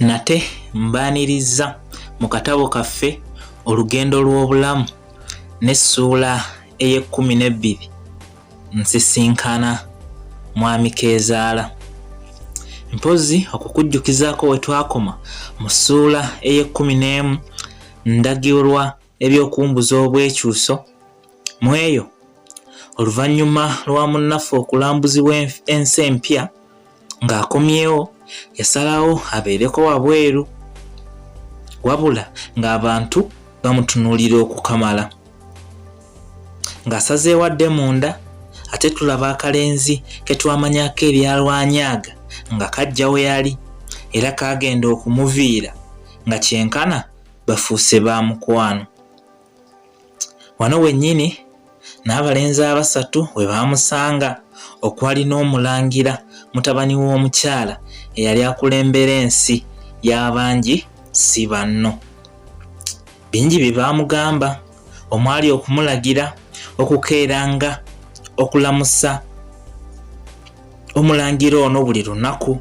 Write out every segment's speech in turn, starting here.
nate mbaaniriza mu katabo kaffe olugendo lw'obulamu n'essuula ey'ekkumi n'ebbiri nsisinkana mwami keezaala mpozi okukujjukizaako we twakoma mu ssuula ey'ekkumi n'emu ndagirwa eby'okumbuza obwekyuso mu eyo oluvannyuma lwa munnaffe okulambuzibwa ensi empya ng'akomyewo yasalawo abeereko wabweru wabula ng'abantu bamutunuulira okukamala ng'asazeewo adde munda ate tulaba akalenzi ke twamanyako ebyalwanyaaga nga kajja we yali era kaagenda okumuviira nga kyenkana bafuuse ba mukwano wano wennyini n'abalenzi abasatu we baamusanga okwali n'omulangira mutabani w'omukyala eyali akulembera ensi y'abangi si banno bingi bye baamugamba omwali okumulagira okukeeranga okulamusa omulangira ono buli lunaku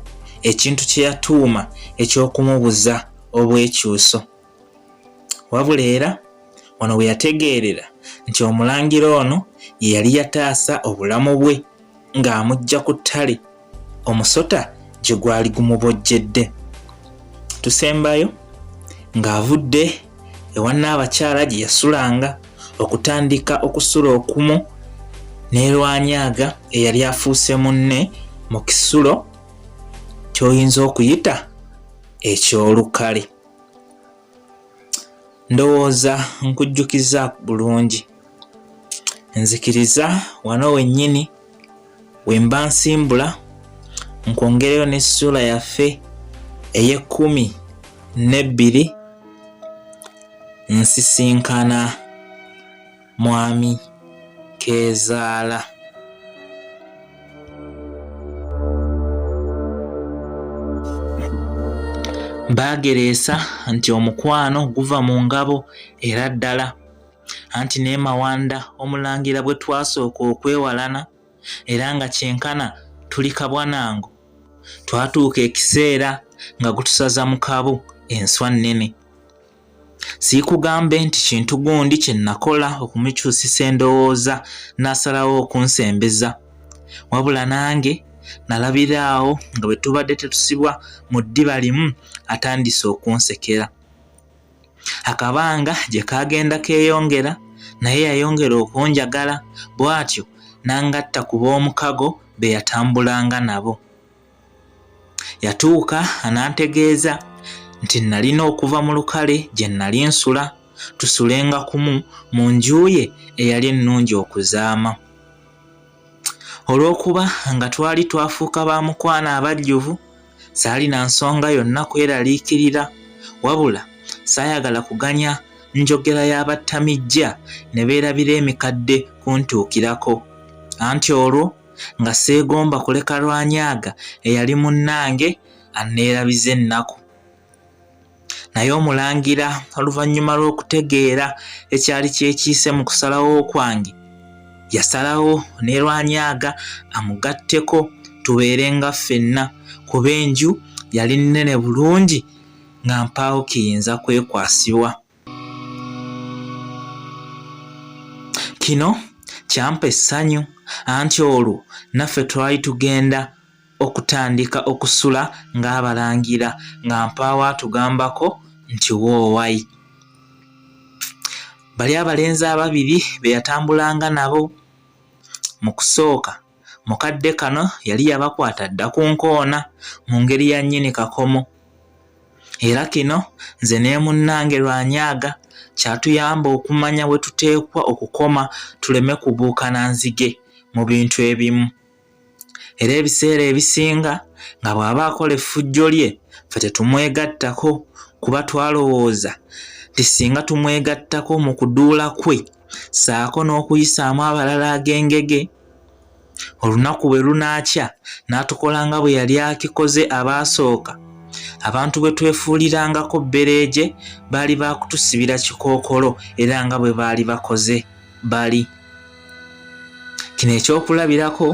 ekintu kye yatuuma eky'okumubuza obwekyuso wabula era wano we yategeerera nti omulangira ono ye yali yataasa obulamu bwe ng'amujja ku ttale omusota gye gwali gumubojjedde tusembayo ng'avudde ewa nnaabakyala gye yasulanga okutandika okusula okumu n'erwanyaga eyali afuuse munne mu kisulo ky'oyinza okuyita eky'olukale ndowooza nkujjukiza bulungi nzikiriza wano wennyini wemba nsimbula nkwongereyo n'essuula yaffe ey'ekkumi n'ebbiri nsisinkana Mwami Keezaala. Baagereesa nti omukwano guva mu ngabo era ddala anti ne Mawanda omulangira bwe twasooka okwewalana era nga kyenkana tuli kabwanango twatuuka ekiseera nga gutusaza mu kabu enswa nnene. Siikugambe nti kintu gundi kye nakola okumukyusisa endowooza n'asalawo okunsembeza. Wabula nange nalabira awo nga bwe tubadde tetusibwa mu ddiba limu atandise okunsekera. Akabanga gye kaagenda keeyongera naye yayongera okunjagala bw'atyo n'angatta ku b'omukago be yatambulanga nabo. Yatuuka anantegeeza nti nalina okuva mu lukale gye nali nsula tusulenga kumu mu nju ye eyali ennungi okuzaama. Olw'okuba nga twali twafuuka ba mukwano abajjuvu, saalina nsonga yonna kweraliikirira wabula saayagala kuganya njogera y'abattamijja ne beerabira emikadde kuntuukirako anti olwo nga seegomba kuleka lwanyaaga eyali munnange anneerabiza ennaku naye omulangira oluvannyuma lw'okutegeera ekyali kyekiise mu kusalawo kwange yasalawo ne lwanyaaga amugatteko tubeere nga ffenna kuba enju yali nnene bulungi nga mpaawo kiyinza kwekwasibwa kino kyampa essanyu anti olwo naffe twali tugenda okutandika okusula ng'abalangira nga mpaawo atugambako nti woowayi bali abalenzi ababiri be yatambulanga nabo mu kusooka mu kadde kano yali yabakwata dda ku nkoona mu ngeri ya nnyini kakomo era kino nze nemunnange lwanyaaga kyatuyamba okumanya we tuteekwa okukoma tuleme kubuukana nzige mu bintu ebimu era ebiseera ebisinga nga bw'aba akola effujjo lye fe tetumwegattako kuba twalowooza nti singa tumwegattako mu kuduula kwe saako n'okuyisaamu abalala ag'engege olunaku bwe lunaakya n'atukola nga bwe yali akikoze abaasooka abantu bwe twefuulirangako bbereegye baali baakutusibira kikookolo era nga bwe baali bakoze bali kino ekyokulabirako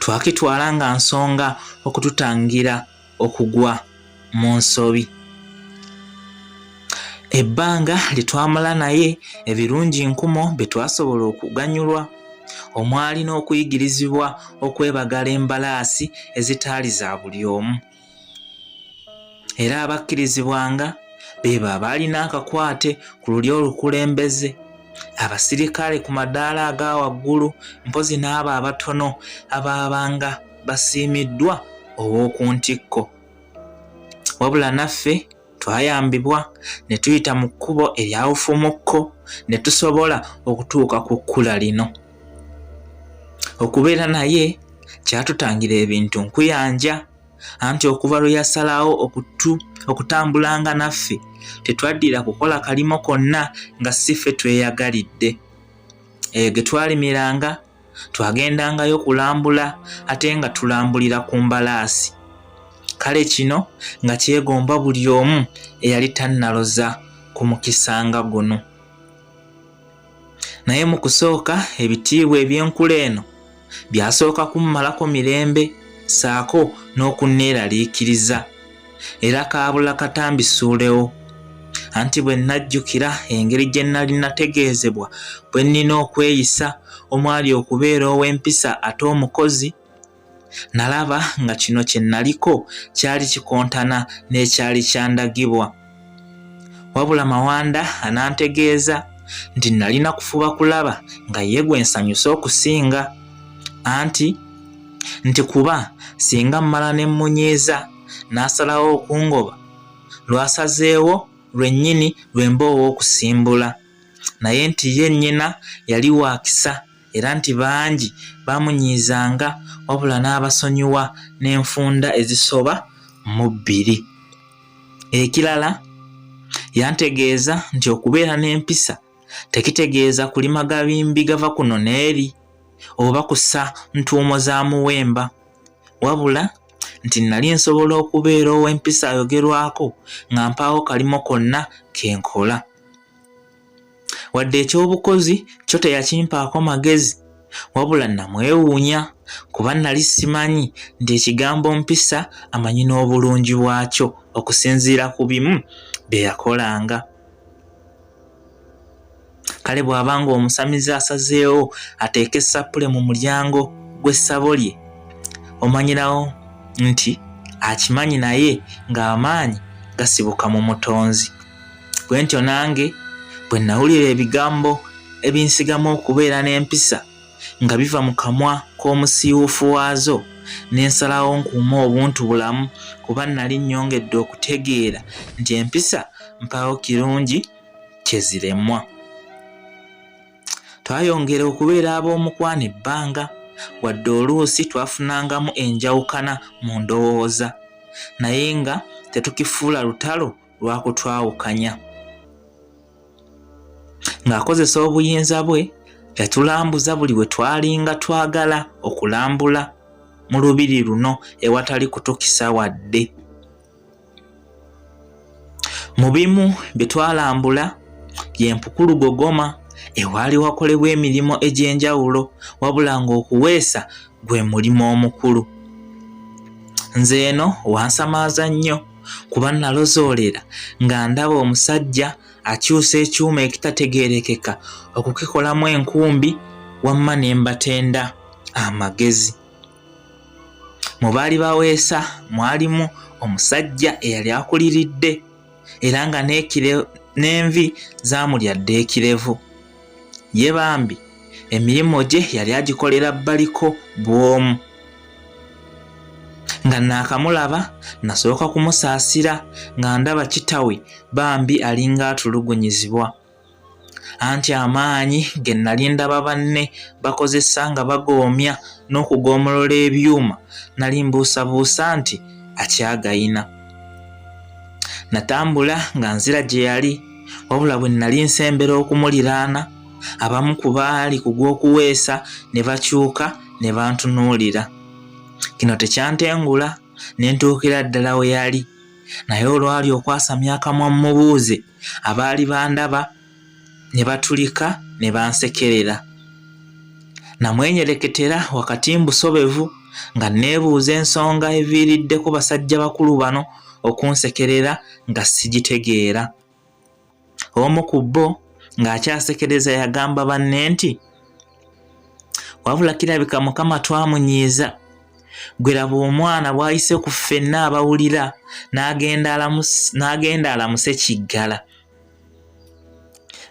twakitwala nga nsonga okututangira okugwa mu nsobi ebbanga lye twamala naye ebirungi nkumo bye twasobola okuganyulwa omwali n'okuyigirizibwa okwebagala embalaasi ezitaali za buli omu era abakkirizibwanga beebo abaalina akakwate ku lulyo olukulembeze abasirikale ku madaala aga waggulu mpozi n'abo abatono abaabanga basiimiddwa ow'oku ntikko. Wabula naffe twayambibwa ne tuyita mu kkubo eryawufumukko ne tusobola okutuuka ku kkula lino. Okubeera naye kyatutangira ebintu nkuyanja anti okuva lwe yasalawo okutambulanga naffe tetwaddira kukola kalimo konna nga si ffe tweyagalidde. Eyo ge twalimiranga twagendangayo kulambula ate nga tulambulira ku mbalaasi kale kino nga kyegomba buli omu eyali tannaloza ku mukisa nga guno naye mu kusooka ebitiibwa eby'enkula eno byasooka kummalako mirembe saako n'okunneeraliikiriza era kaabula kata mbisuulewo anti bwe nnajjukira engeri gye nnali nategeezebwa bwe nnina okweyisa omwali okubeera ow'empisa ate omukozi nalaba nga kino kye nnaliko kyali kikontana n'ekyali kyandagibwa wabula mawanda anantegeeza nti nalina kufuba kulaba nga ye gwe nsanyuse okusinga anti nti kuba singa mmala ne mmunyiiza n'asalawo okungoba lwasazeewo lwennyini lwe mba ow'okusimbula naye nti ye nnyina yali waakisa era nti bangi baamunyiizanga wabula n'abasonyiwa n'enfunda ezisoba mu bbiri Ekirala yantegeeza nti okubeera n'empisa tekitegeeza kulima gabimbi gava kuno n'eri oba kusa ntuumo za muwemba wabula nti nali nsobola okubeera ow'empisa ayogerwako nga mpaawo kalimo konna ke nkola. wadde ekyobukozi kyo teyakimpaako magezi wabula namwewuunya kuba nali simanyi nti ekigambo mpisa amanyi n'obulungi bwakyo okusinziira ku bimu bye yakolanga kale bw'aba nga omusamize asazeewo ateeke esappule mu mulyango gw'essabo lye omanyirawo nti akimanyi naye ng'amaanyi gasibuka mu mutonzi bwe ntyo nange bwe nawulira ebigambo ebinsigamu okubeera n'empisa nga biva mu kamwa k'omusiiwuufu waazo n'ensalawo nkuuma obuntu bulamu kuba nnali nnyongedde okutegeera nti empisa mpaawo kirungi kye ziremwa twayongera okubeera ab'omukwano ebbanga wadde oluusi twafunangamu enjawukana mu ndowooza naye nga tetukifuula lutalo lwakutwawukanya ng'akozesa obuyinza bwe yatulambuza buli we twalinga twagala okulambula mu lubiri luno ewatali kutukisa wadde mu bimu bye twalambula yempukulu gogoma ewaali wakolebwa emirimu egy'enjawulo wabula ng'okuweesa gwe mulimu omukulu nze eno wansamaaza nnyo kuba nalozoolera nga ndaba omusajja akyusa ekyuma ekitategeerekeka okukikolamu enkumbi wamma ne mbatenda amagezi mu baali baweesa mwalimu omusajja eyali akuliridde era nga n'envi zaamulya dda ekirevu ye bambi emirimu gye yali agikolera baliko bwomu nga naakamulaba nasooka kumusaasira nga ndaba kitawe bambi alinga atulugunyizibwa anti amaanyi ge nali ndaba banne bakozesa nga bagoomya n'okugoomolola ebyuma nali mbuusabuusa nti akyagayina natambula nga nzira gye yali wabula bwe nnali nsembera okumuliraana abamu ku baali ku gw'okuweesa ne bakyuka ne bantunuulira kino tekyantengula ne ntuukira ddala we yali naye olwali okwasamya akamwa mmubuuze abaali bandaba ne batulika ne bansekerera namwenyereketera wakati mbusobevu nga nneebuuza ensonga eviiriddeko basajja bakulu bano okunsekerera nga sigitegeera. Omu ku bo ng'akyasekereza yagamba banne nti, Wabula kirabika Mukama twamunyiiza. Ggwe laba omwana bw'ayise ku ffenna abawulira n'agenda alamuse kiggala.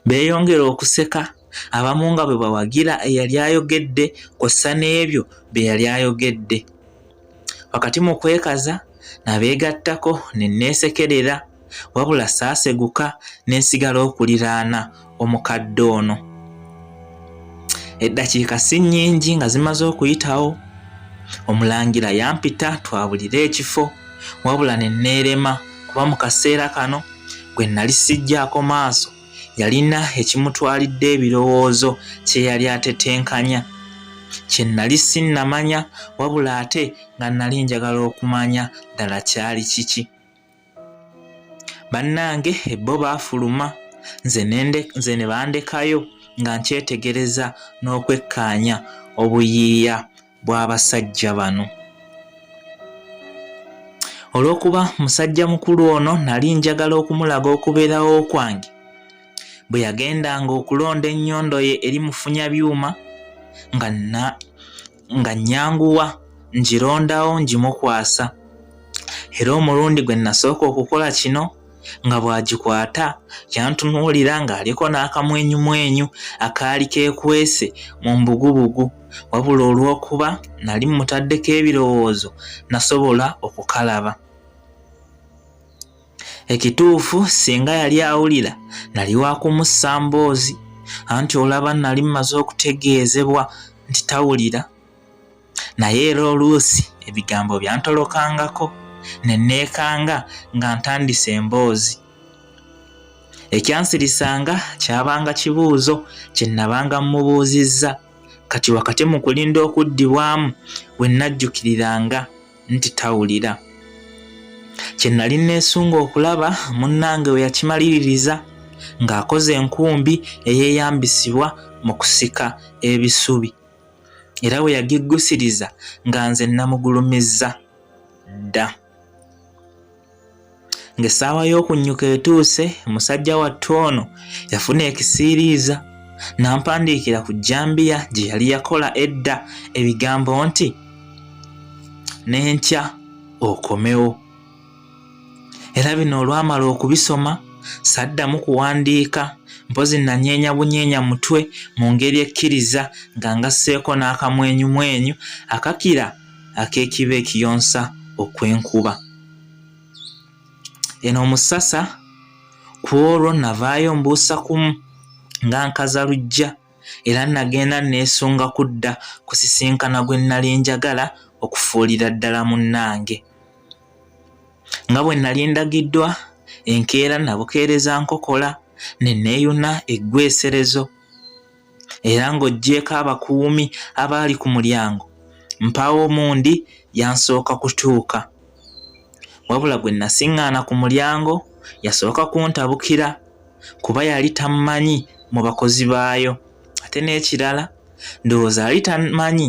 beeyongera okuseka abamu nga bwe bawagira eyali ayogedde kw'ossa n'ebyo bye yali ayogedde wakati mu kwekaza nabeegattako ne neesekerera wabula saaseguka ne nsigala okuliraana omukadde ono eddakiika si nnyingi nga zimaze okuyitawo omulangira yampita twabulire ekifo wabula ne neerema kuba mu kaseera kano gwe nali sijjaako maaso yalina ekimutwalidde ebirowoozo kye yali atetenkanya kye nali sinnamanya wabula ate nga nali njagala okumanya ddala kyali kiki bannange ebbo baafuluma nze ne bandekayo nga nkyetegereza n'okwekkaanya obuyiiya bw'abasajja bano. Olw'okuba musajja mukulu ono nali njagala okumulaga okubeerawo kwange, bwe yagendanga okulonda ennyondo ye eri mufunya byuma nga na nga nnyanguwa ngirondawo ngimukwasa era omulundi gwe nasooka okukola kino nga bw'agikwata yantunuulira ng'aliko n'akamwenyumwenyu akaali keekwese mu mbugubugu wabula olw'okuba nali mmutaddeko ebirowoozo nasobola okukalaba ekituufu singa yali awulira nali wa kumussa mboozi anti olaba nali mmaze okutegeezebwa nti tawulira naye era oluusi ebigambo byantolokangako ne neekanga nga ntandise emboozi ekyansirisanga kyabanga kibuuzo kye nnabanga mmubuuzizza kati wakati mu kulinda okuddibwamu we nnajjukiriranga nti tawulira kye nnali nneesunga okulaba munnange we yakimaliririza ng'akoze enkumbi eyeeyambisibwa mu kusika ebisubi era bwe yagiggusiriza nga nze nnamugulumizza dda ng'essaawa y'okunnyuka etuuse musajja wattu ono yafuna ekisiiriiza n'ampandiikira ku jambiya gye yali yakola edda ebigambo nti n'enkya okomewo era bino olwamala okubisoma saddamu kuwandiika mpozi nanyeenya bunyeenya mutwe mu ngeri ekkiriza nga ngasseeko n'akamwenyumwenyu akakira ak'ekiba ekiyonsa okw'enkuba eno omusasa ku olwo navaayo mbuusa kumu nga nkaza lujja era nagenda neesunga kudda kusisinkana gwe nnali njagala okufuulira ddala munnange nga bwe nnali ndagiddwa enkeera nabukeereza nkokola ne neeyuna eggweserezo era ng'oggyeeko abakuumi abaali ku mulyango mpaawo omundi yansooka kutuuka wabula gwe nasiŋŋaana ku mulyango yasooka kuntabukira kuba yali tammanyi mu bakozi baayo ate n'ekirala ndowooza yali tamanyi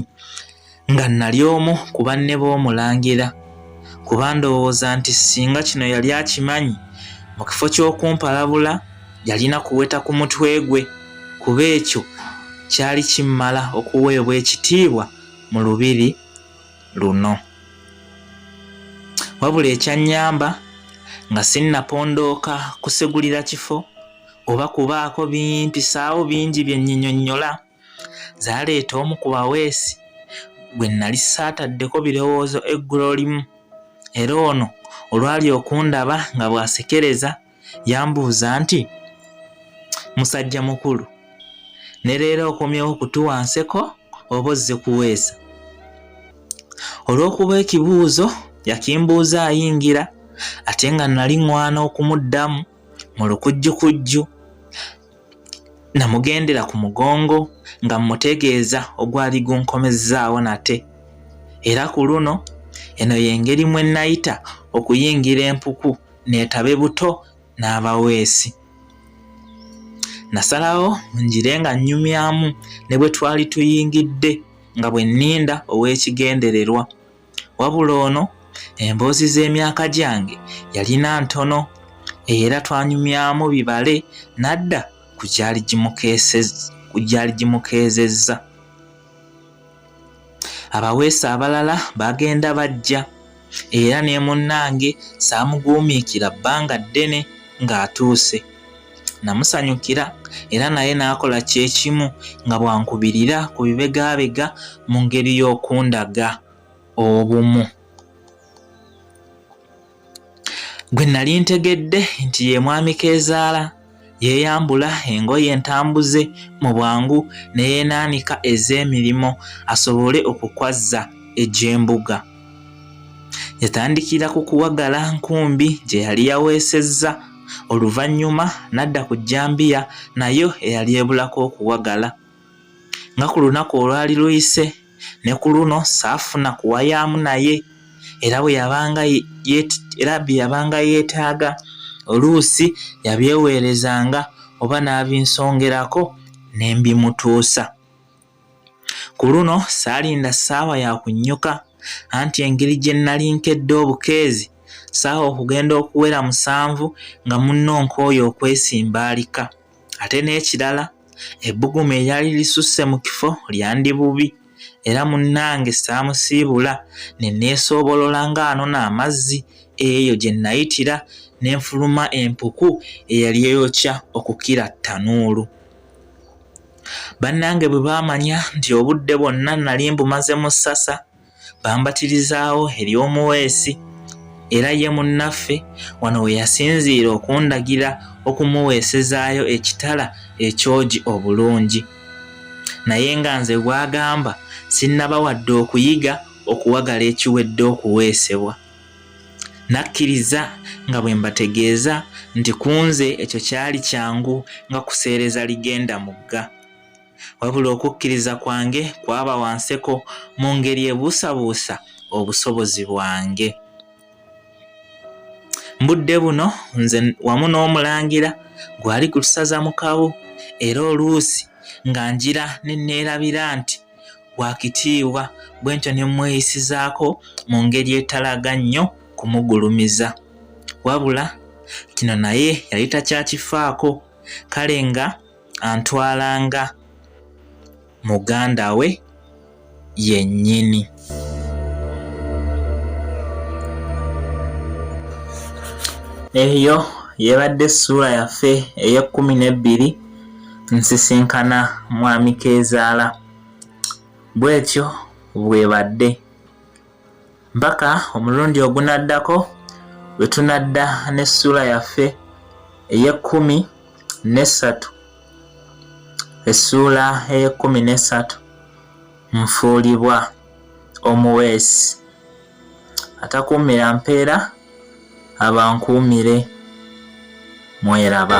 nga nali omu ku banne b'omulangira kuba ndowooza nti singa kino yali akimanyi mu kifo ky'okumpalabula yalina kuweta ku mutwe gwe kuba ekyo kyali kimmala okuweebwa ekitiibwa mu lubiri luno wabula ekyannyamba nga sinnapondooka kusegulira kifo oba kubaako bimpisaawo bingi bye nyinyonnyola zaaleeta omu ku baweesi gwe nnali saataddeko birowoozo eggulolimu era ono olwali okundaba nga bw'asekereza yambuuza nti musajja mukulu ne leero okomyewo okutuwa nseko oba ozze kuweesa olw'okuba ekibuuzo yakimbuuza ayingira ate nga nali ŋwana okumuddamu mu lukujjukujju namugendera ku mugongo nga mmutegeeza ogwali gunkomezzaawo nate era ku luno eno y'engeri mwe nayita okuyingira empuku neetabe buto n'abaweesi. Nasalawo ngire nga nnyumyamu ne bwe twali tuyingidde nga bwe nninda ow'ekigendererwa. Wabula ono emboozi z'emyaka gyange yalina ntono era twanyumyamu bibale n'adda ku gyali gimukeezezza. abaweesi abalala bagenda bajja era ne munnange saamuguumiikira bbanga ddene ng'atuuse namusanyukira era naye n'akola kyekimu nga bwankubirira ku bibegaabega mu ngeri y'okundaga obumu gwe nali ntegedde nti ye mwami keezaala yeeyambula engoye entambuze mu bwangu ne yeenaanika ez'emirimu asobole okukwazza egy'embuga yatandikira ku kuwagala nkumbi gye yali yaweesezza oluvannyuma n'adda ku jjambiya nayo eyali ebulako okuwagala nga ku lunaku olwali luyise ne ku luno saafuna kuwayaamu naye era bwe yabanga era bye yabanga yeetaaga oluusi yabyeweerezanga oba n'abinsongerako ne mbimutuusa ku luno saalinda ssaawa ya kunnyuka anti engeri gye nnali nkedde obukeezi saawa okugenda okuwera musanvu nga munno nkooyo okwesimba alika ate n'ekirala ebbugumu eryali lisusse mu kifo lyandi bubi era munnange saamusiibula ne neesoobolola ng'anona amazzi eyo gye nnayitira ne nfuluma empuku eyali eyokya okukira ttanuulu bannange bwe baamanya nti obudde bwonna nnali mbumaze mu ssasa bambatirizaawo eri omuweesi era ye munnaffe wano we yasinziira okundagira okumuweesezaayo ekitala ekyogi obulungi naye nga nze bwagamba sinnaba wadde okuyiga okuwagala ekiwedde okuweesebwa nakkiriza nga bwe mbategeeza nti ku nze ekyo kyali kyangu nga kuseereza ligenda mugga wabula okukkiriza kwange kwaba wanseko mu ngeri ebuusabuusa obusobozi bwange mbudde buno nze wamu n'omulangira gwali ku lusaza mukabu era oluusi nga njira ne neerabira nti wakitiibwa bwe ntyo ne mmweyisizaako mu ngeri etalaga nnyo kumugulumiza wabula kino naye yali takyakifaako kale nga antwala nga muganda we yennyini. Eyo y'ebadde essuula yaffe ey'ekkumi n'ebbiri nsisinkana mwami Keezaala. Bw'etyo bw'ebadde. mpaka omulundi ogunaddako lwe tunadda n'essuula yaffe ey'ekkumi n'essatu essuula ey'ekkumi n'essatu nfuulibwa omuweesi atakuumira mpeera abankuumire mweraba